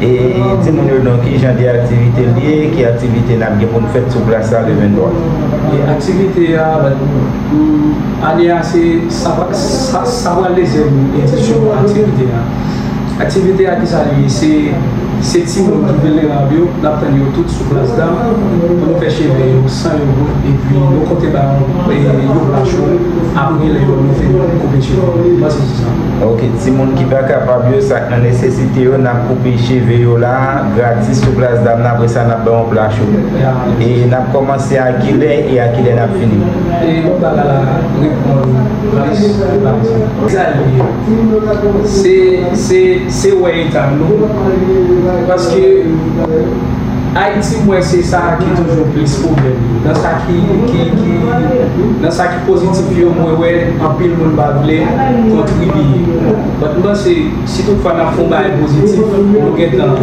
E di moun yo non ki jan de aktivite li ye, ki aktivite n ap gen pou n fèt sou plas la le 23. E aktivite a pou ane a se sa sa pral dezyèm edisyon aktivite a. Aktivite a ki sa li ye? Se se ti moun ki vilnerab yo, n ap tann yo tout sou plas dam pou nou fè cheve yo san yo bout epi nou konte ba yo yon pla cho apre lè yo fin koupe cheve yo. Mwen se se sa. Ok timoun ki pa kapab yo sak nan nesesite yo nap koupe cheve yo la gratis sou plas dam nan apre sa nap bay yon pla cho e nap komanse a kilè e a kilè nap fini. E yon bagay la reponn plis pati. Kisa li ye? Se se se wè eta nou paske Ayiti mwen se sa ki toujou plis pwoblèm nan sa ki ki nan sa positif yo mwen wè anpil moun pa vle kontribiye but m panse si tout fwa nap fè yon bagay positif nou gentan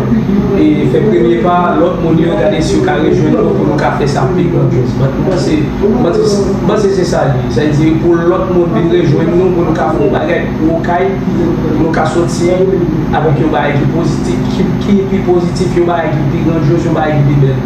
e fè premye pa lòt moun yo gade si yo ka rejwenn nou pou nou ka fè sa pi grandiòz but m panse m panse se sa l ye sa vle di pou lòt moun vin rejwenn nou pou nou ka fè yon bagay pou okay pou nou ka sòti avèk yon bagay ki positif ki pi positif yon bagay ki pi grandiòz yon bagay ki pi bèl.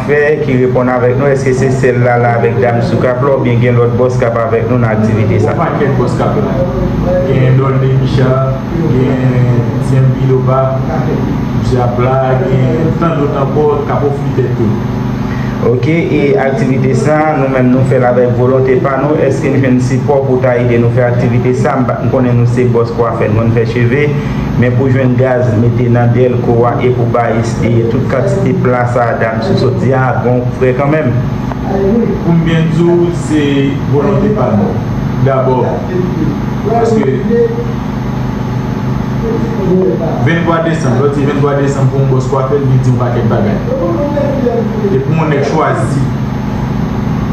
Fè ki reponn avèk nou eske se sèl lala avèk dam sou kap la oubyen gen lòt bòs kap avèk nou nan aktivite sa. Bon pakèt bòs kap la gen don demicha gen zen biloba dyabla gen tan lòt ankò kap ofri tèt yo. Ok e aktivite sa nou menm nou fèl avèk volonte pa nou eske'n jwenn sipò pou ta ede nou fè aktivite sa m konnen nou se bòs kwafè nou konn fè cheve Men pou jwenn gaz mete nan dèlko a e pou bay espeye tout kantite pla sa a dam sou sot di a, bon ou fre kanmenm. Pou m byen di w se volonte pa nou. Dabò paske pou 23 desanm, lè w di 23 desanm pou yon bòs kwafe l li di yon pakèt bagay. E pou yon nèg chwazi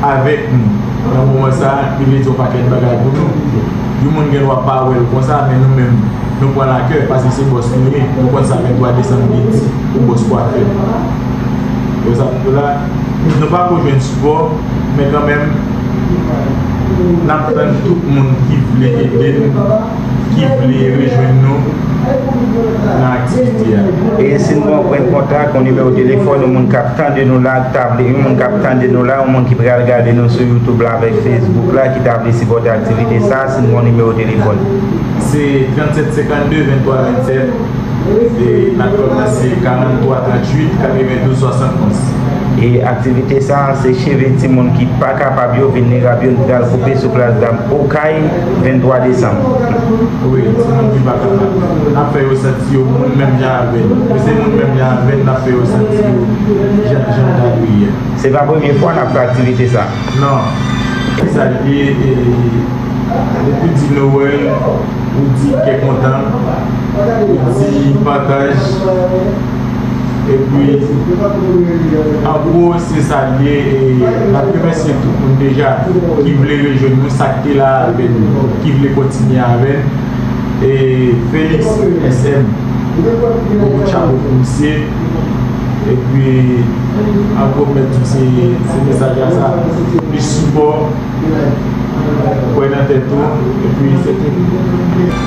avèk nou nan moman sa a li vle di yon pakèt bagay pou nou. Yon moun gen dwa pa wè l konsa men nou menm nou pran l a kè paske se bòs nou ye, nou konn sa 23 desanm vle di pou bòs kwafè. Wè sa m di w la, nou pa ko jwenn sipò men kanmenm n ap tann tout moun ki vle ede n, ki vle rejwenn nou. nan aktivite a. E si nou pran pwen kontak, yon nimewo telefòn, yon moun k ap tande nou la, k ta vle, yon moun k ap tande nou la, yon moun ki pral gade nou sou youtube la avèk facebook la ki ta vle sipòte aktivite sa a, si nou gen yon nimewo telefòn. Se 37 52 23 27, e n ap kòmanse 43 38 92 71. E aktivite sa a se cheve timoun ki pa kapab yo, vilnerab yo, n pral koupe sou plas dam okay 23 desanm. Wi, ti moun ki pa kapab. N ap fè yo santi yo moun menm jan avè n. Yo se moun menm jan avè n, n ap fè yo santi yo jan jan ta dwe ye. Se pa premye fwa n ap fè aktivite sa a. Non. Ki sa l ye? Depi w di Nowèl, ou di kè kontan, ou di pataj. epi angwo se sa l ye e n ap remèsye tout moun deja ki vle rejwenn nou sa k te la avè n ki vle kontinye avè n e Felix SM bokou chapo pou misye epi angwo mèt di se mesaj la sa plis sipò kwè nan tèt ou epi se tout.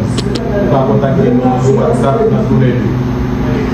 Ou ka kontakte nou sou WhatsApp nan tou lè 2.